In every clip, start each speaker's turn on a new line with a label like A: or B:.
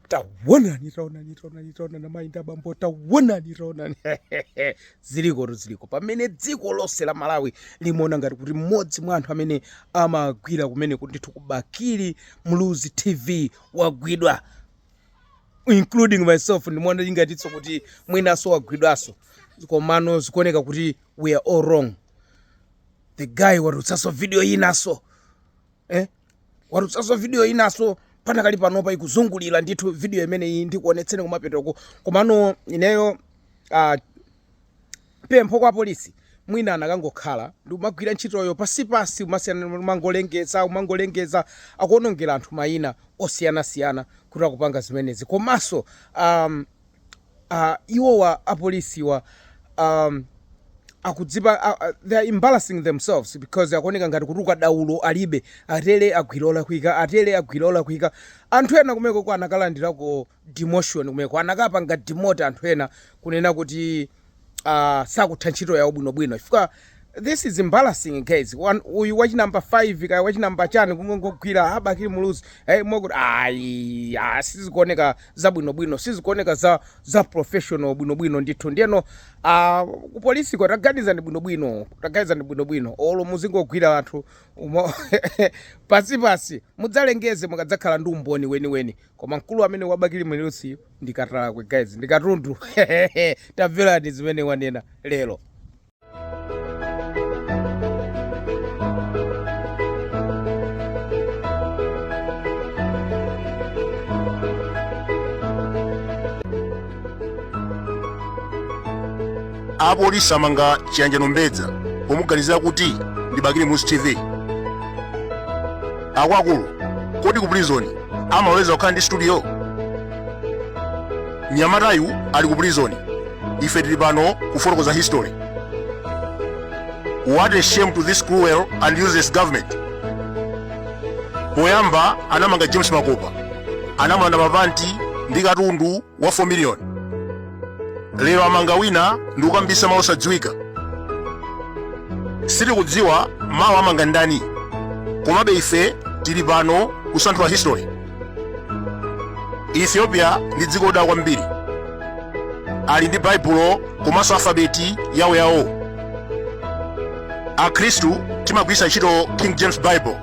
A: tawonani tawonani tawonani tawonani amayi ndi abambo tawonani tawonani zilikotu ziliko pamene dziko lonse la malawi limaona ngati kuti mmodzi mwa anthu amene amagwira kumene kuti ndithu ku bakili muluzi tv wagwidwa including myself ndimaona ngatinso kuti mwinanso wagwidwanso komano zikuoneka kuti we are all wrong the guy watutsanso video yinanso eh? watutsanso video inaso panakali panopa ikuzungulira ndithu video imeneyi ndikuonetseni kumapetoko komano ineyo uh, pempho kwa polisi mwina anakangokhala ndi kumagwira ntchitoyo pansipansi kumasiyana kumangolengeza kumangolengeza akuonongera anthu mayina osiyanasiyana kuti akupanga zimenezi komanso um, uh, iwowa apolisiwa um, akudzipa uh, uh, they are embarrassing themselves because akuoneka ngati kuti ukadaulo alibe atele agwira olakwika atele agwira olakwika anthu ena kumeneko ko anakalandirako demotion kumeneko anakapanga demote anthu ena kunena kuti uh, sakutha ntchito yawo bwinobwino chifukwa this is embarrassing guys uyu wachinamba 5 kaya wachinamba chiyani kungogwira a bakili muluzi hey, mokuti ayi ah, sizikuoneka za bwinobwino sizikuoneka za, za professional bwinobwino ndithu ndiyeno uh, kupolisiko taganizani bwinobwino taganizani bwinobwino olo muzingogwira anthu umo pansipansi mudzalengeze mukadzakhala ndi umboni weniweni Koma mkulu amene wa bakili muluziyu ndi katalakwe guys ndi katundu tamverani zimene wanena
B: lero. apolisi amanga chiyanjano mbedza pomuganizira kuti ndi bakili muluzi tv akuluakulu kodi ku prison amaloleza kukhala ndi studio nyamatayu ali ku prison ife tili pano kufotokoza history what a shame to this cruel and useless government poyamba anamanga james makopa anamulanda mapanti ndi katundu wa 4 million lero amanga wina ndi kukambisa mawu osadziwika sitikudziwa mawa amanga ndani komabe ife tili pano kusanthula history ethiopia ndi dziko lodala kwambiri ali ndi baibulo komanso alfabeti yawo yawo akhristu timagwiritsa ntchito king james bible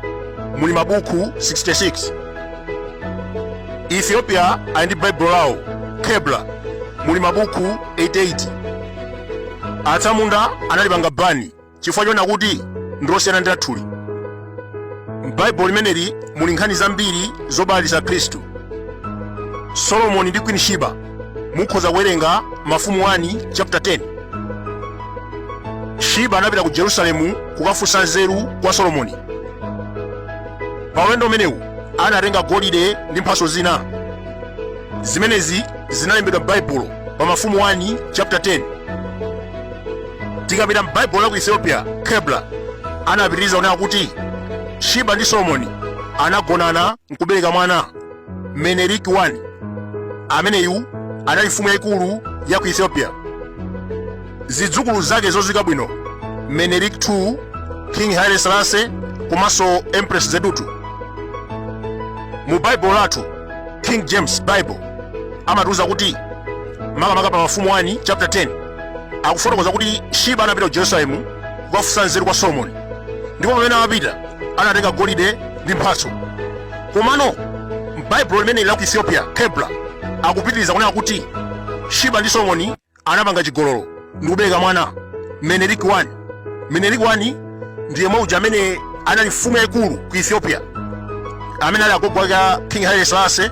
B: muli mabuku 66 ethiopia ali ndi baibulo lawo kebla muli mabuku 88 atsamunda analipanga bani chifukwa choona kuti ndilosiyana ndi lathuli m'baibulo limeneli muli nkhani zambiri zobalalitsa akhristu solomoni ndi queen shiba mukhoza kuwerenga mafumu 1 chapter 10 shiba anapita ku jerusalemu kukafunsa nzeru kwa solomoni pa ulendo umenewu anatenga golide ndi mphatso zina zimenezi zinalembedwa m'baibulo pa mafumu 1 chapter 10 tikapita m'baibulo la ku ethiopia kebla anapitiriza kunena kuti shiba ndi solomoni anagonana nkubereka mwana menelik 1 ameneyu anali mfumu yayikulu ya ku ethiopia zidzukulu zake zodziwika bwino menelik 2 king haile selase komanso empress zewditu mu baibulo lathu king james bible amatiuza kuti makamaka pa mafumu 1 chapter 10 akufotokoza kuti shiba anapita ku jerusalemu kukafunsa nzeru kwa solomoni ndipo pamene amapita anatenga golide ndi mphatso komano m'baibulo limeneli la ku ethiopia kebla akupitiriza kunena kuti shiba ndi solomoni anapanga chigololo ndi kubereka mwana Menelik 1 Menelik 1 ndiye mwana uja amene anali mfumu yaikulu ku Ethiopia amene ali agogo ake a King Haile Selassie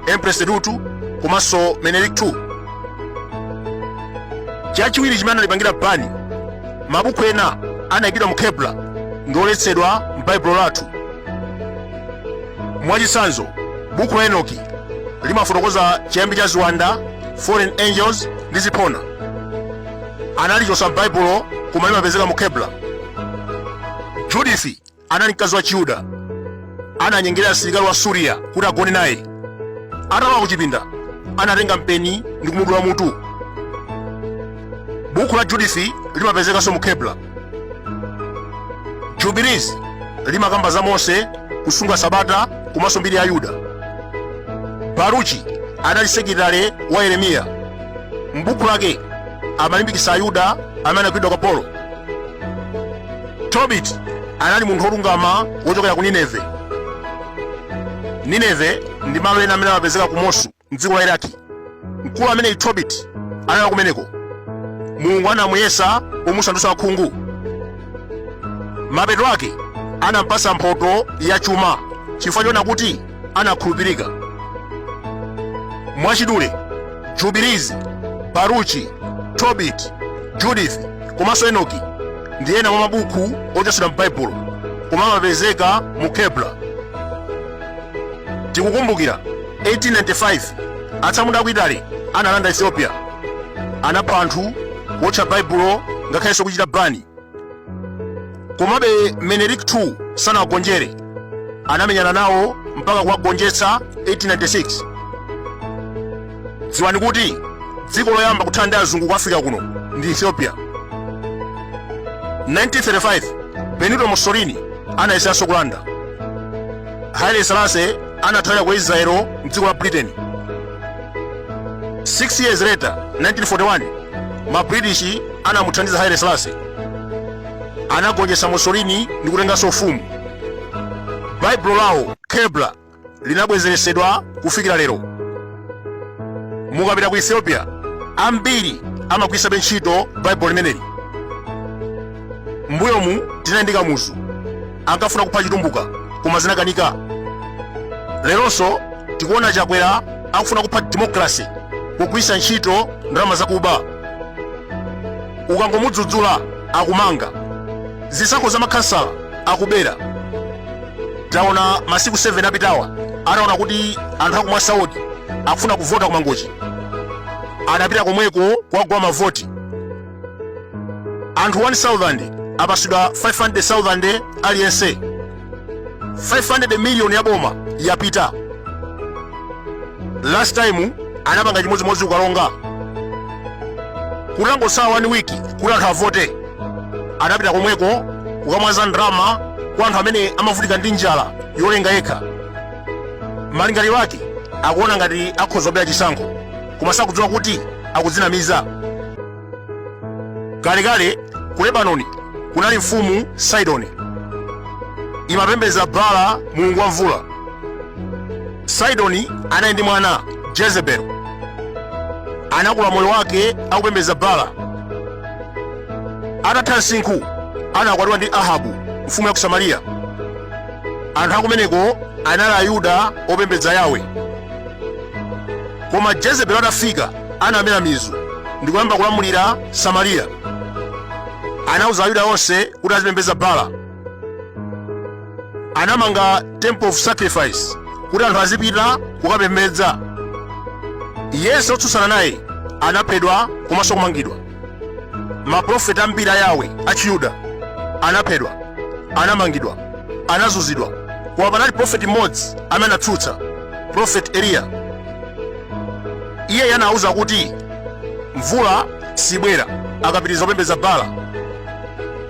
B: Empress Zewditu komanso Menelik 2 chachiwiri chimene analipangira bani mabuku ena anayikidwa mu Kebla ndi oletsedwa m'Baibulo lathu Mwachitsanzo, buku la Enoki limafotokoza chiyambi cha ziwanda, fallen angels ndi ziphona. Analichotsa m'Baibulo koma limapezeka mu Kebla. Judith anali mkazi wa Chiyuda. Ananyengerera msilikali wa Suriya kuti agone naye. Atalowa ku chipinda, anatenga mpeni ndi kumudula mutu. Buku la Judith limapezekanso mu Kebla. jubilees limakamba za mose kusunga sabata komanso mbiri ya ayuda baruchi anali sekilitale wa yeremiya m'buku lake amalimbikitsa ayuda amene anagwidwa ukapolo tobit anali munthu wolungama wochokera ku nineve nineve ndi malo ena amene amapezeka ku mosu mdziko la iraki mkulu ameneyi tobiti anali kumeneko mulungu anamuyesa pomusandutsa wakhungu mapeto ake anampasa mphoto ya chuma chifukwa choona kuti anakhulupirika mwachidule jubilizi baruchi tobit judith komanso enoki ndi ena mwa mabuku ochotsedwa m'baibulo koma amapezeka mu kebla tikukumbukira 1895 atsamunda aku italy analanda ethiopia anapha anthu kuotcha baibulo ngakhalenso kuchita bani komabe menelik 2 sanawagonjere anamenyana nawo mpaka kuwagonjetsa 1896 dziwani kuti dziko loyamba kuthana ndi azungu ku africa kuno ndi ethiopia 1935 benito mussolini anayesanso kulanda haile selassie anathawira ku israelo mdziko la britain 6 years later 1941 ma british anamuthandiza haile selassie anagonjetsa mussolini ndi kutenganso ufumu baibulo lawo kebla linabwezeretsedwa kufikira lero mukapita ku ethiopia ambiri amagwiritsabe ntchito baibulo limeneli mbuyomu tinali ndi kamuzu ankafuna kupha chitumbuka koma zinakanika leronso tikuona chakwera akufuna kupha democracy kugwiritsa ntchito ndalama zakuba ukangomudzudzula akumanga zisankho za makhansala akubera taona masiku 7 apitawa ataona kuti anthu aku mwasa ward akufuna kuvota ku mangochi anapita komweko kuwagula mavoti anthu 1000 apasidwa 500000 aliyense 500 million ya boma yapita last time anapanga chimodzimodzi ku karonga kutangotsala 1 wiki kuti anthu avote anapita komweko kukamwaza ndrama kwa anthu amene amavutika ndi njala yolenga yekha malingaliro ake akuona ngati akhoza kubera chisankho koma sakudziwa kuti akudzinamiza. Kalekale ku Lebanoni kunali mfumu Sidoni, imapembedza Baala mulungu wa mvula. Sidoni anali ndi mwana Jezebeli, anakula moyo wake akupembedza Baala. Atatha msinkhu anakwatiwa ndi Ahabu mfumu ya ku Samariya. Anthu akumeneko anali Ayuda opembedza Yawe. koma jezebelo atafika anamera mizu ndi kuyamba kulamulira samariya anauza ayuda onse kuti azipembedza bala anamanga temple of sacrifice kuti anthu azipita kukapembedza yense wotsutsana naye anaphedwa komanso kumangidwa maprofeti ambiri a yawe achiyuda anaphedwa anamangidwa anazunzidwa koma panali profeti mmodzi amene anatsutsa profeti eliya iye anawuza kuti mvula sibwera akapitiriza kupembedza bala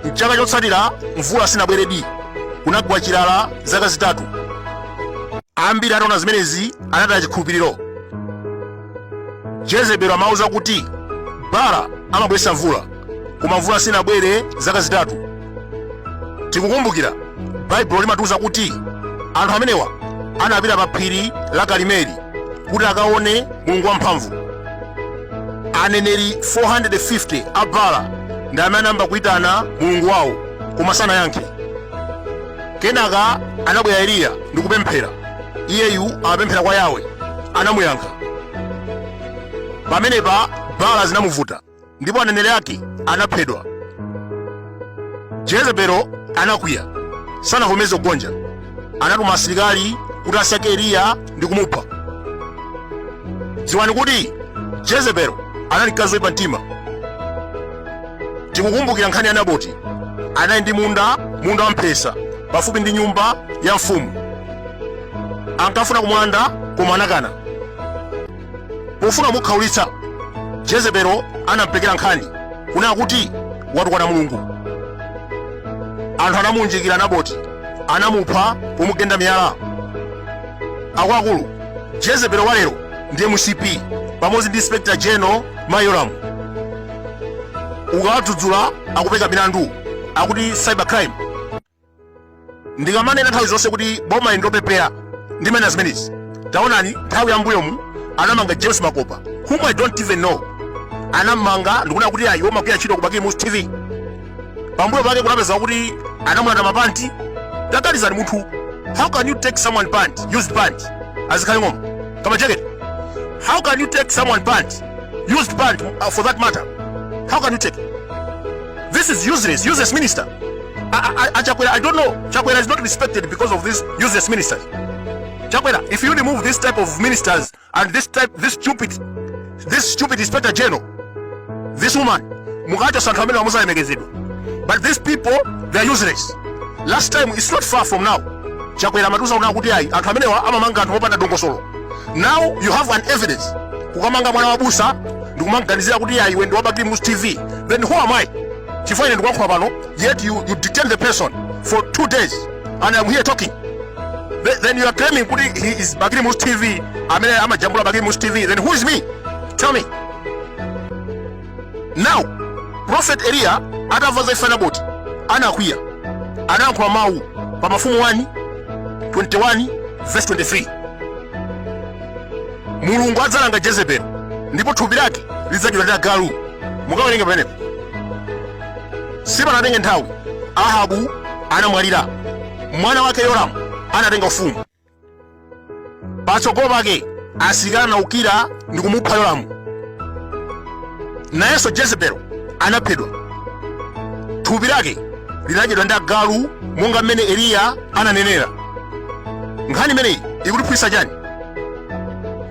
B: mchaka chotsatira mvula sinabweredi kunagwa chilala zaka zitatu ambiri ataona zimenezi anataya chikhulupiriro jezebelo amauza kuti bala amabweretsa mvula koma mvula sinabwere zaka zitatu tikukumbukira baibulo limatiuza kuti anthu amenewa anapita pa phiri la karimeli kuti akaone mulungu wamphamvu aneneri 450 a bala ndi amene anayamba kuitana mulungu wawo koma sanayankhe kenaka anabwera eliya ndi kupemphera iyeyu amapemphera kwa yawe anamuyankha pamenepa baala zinamuvuta ndipo aneneri ake anaphedwa jezebelo anakwiya sanavomeze kugonja anatuma asilikali kuti asake eliya ndi kumupha dziwani kuti jezebelo anali mkazi woyipa mtima tikukumbukira nkhani ya naboti anali ndi munda munda wamphesa pafupi ndi nyumba ya mfumu ankafuna kumulanda koma anakana pofuna kumukhaulitsa jezebelo anampekera nkhani kunena kuti watukwana mulungu anthu anamuunjikira naboti anamupha pomugenda miyala akuluakulu jezebelo walero ndi mcp pamodzi ndi inspector general ma yolamu ukawadzudzula akupeka milandu akuti cybercrime ndikamanena nthawi zonse kuti boma ili ndopepera ndimanena zimenezi taonani nthawi ya mbuyomu anamanga james makopa whom i don't even know anamanga ndikuona kuti ayi amagwira ntchito ku bakili muluzi tv pambuyo pake kunapezeka kuti anamulanda mapanti taganizani munthu how can you take someone pant used pant azikhala ngoma kama jacket how can you take someone pant used pant uh, for that matter how can you take this is useless useless minister I, I, Chakwera, I don't know. Chakwera is not respected because of these useless ministers. Chakwera, if you remove this type of ministers and this type, this stupid, this stupid inspector general, this woman, Mugato Sankamela Musa Emegezidu. But these people, they are useless. Last time, it's not far from now. Chakwera Matusa Unakutiai, Ankamelewa, Amamanga, and Hopata Dongosolo. Now you have an evidence. Kukamanga Mwana Wabusa, Dukumanganizia Kutiai, when Wabaki Mus TV. Then who am I? chifukwa ine ndikulankhula pano yet you, you detain the person for two days and I'm here talking Th- then you are claiming kuti he is bakili musi tv amene amajambula bakili musi tv then who is me? tell me now prophet eliya atamva za imfa ya naboti anakwiya anayankhula mawu pa mafumu 1 21 verse 23 mulungu adzalanga jezebeli ndipo thupi lake lidzadyedwa ndi agalu mukawerenga pamenepo sipanatenge nthawi ahabu anamwalira mwana wake yoramu anatenga ufumu patsogolo pake asilikali anaukira ndi kumupha yoramu nayenso jezebeli anaphedwa thupi lake linadyedwa ndi agalu monga mmene eliya ananenera nkhani imeneyi ikutiphunzitsa chani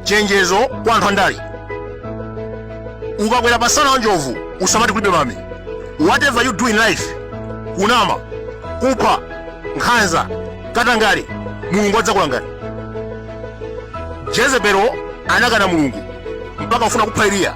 B: chenjezo kwa anthu andale ukakwera pasana wa njovu usamati kulibe mame whatever you do in life kunama kupha nkhanza katangale mulungu adzakulangani jezebeli anakana mulungu mpaka kufuna kupha eliya